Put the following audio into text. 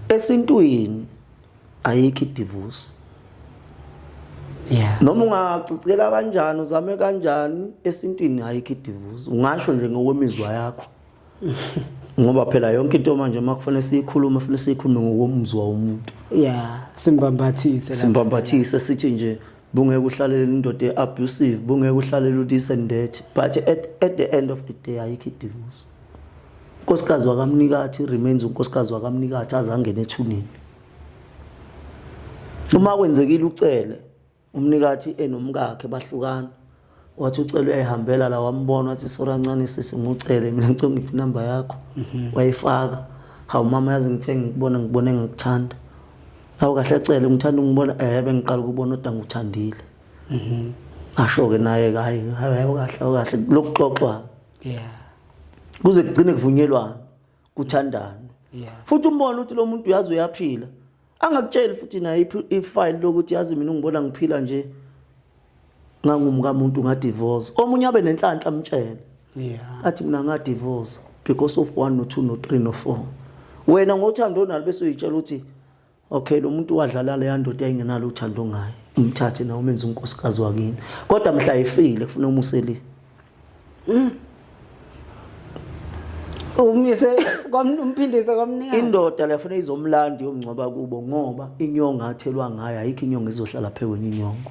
esintwini ayikho idivorce yeah noma ungacicela kanjani uzame kanjani esintwini ayikho idivorce ungasho nje ngokwemizwa yakho ngoba phela yonke into manje makufanele siyikhulume fanele siyikhulume ngokomzwa womuntu yeah simbambathise simbambathise sithi nje bungeke uhlalele indoda eabusive bungeke uhlalele udise ndethi but at, at the end of the day ayikho idivorce unkosikazi wakamnikathi remains unkosikazi wakamnikathi azangena ethuneni uma kwenzekile ucele umnikathi enomkakhe bahlukana wathi ucele uyayihambela la wambona wathi sora ncane sisi ngiwucele mina ngicela ngiphi inamba yakho mhm. wayifaka hawu mama yazi ngithe ngikubona ngikubona engikuthanda hawu kahle cele ngithanda ungibona ehe eh, bengiqala ukubona odwa nguthandile mhm. asho-ke naye-ke hayi hayi kahle kahle lokuxoxwa yeah kuze kugcine kuvunyelwana kuthandana yeah futhi umbona ukuthi lo muntu uyazi uyaphila angakutsheli futhi naye ifile lokuthi yazi mina ungibona ngiphila nje ngangumkamuntu ngadivorce omunye abe nenhlanhla amtshele yeah athi mina ngadivorce because of 1 no 2 no 3 no 4 wena ngothando onalo bese uyitshela ukuthi okay lo muntu wadlala leya ndoda engenalo uthando ngaye umthathe nawe umenze unkosikazi wakini kodwa mhla efile kufuna umuseli mm. umise kwamphindise kwamnika indoda lefuna izomlandi yomngcwaba kubo ngoba inyonga athelwa ngayo ayikho inyonga izohlala phekwenye inyongo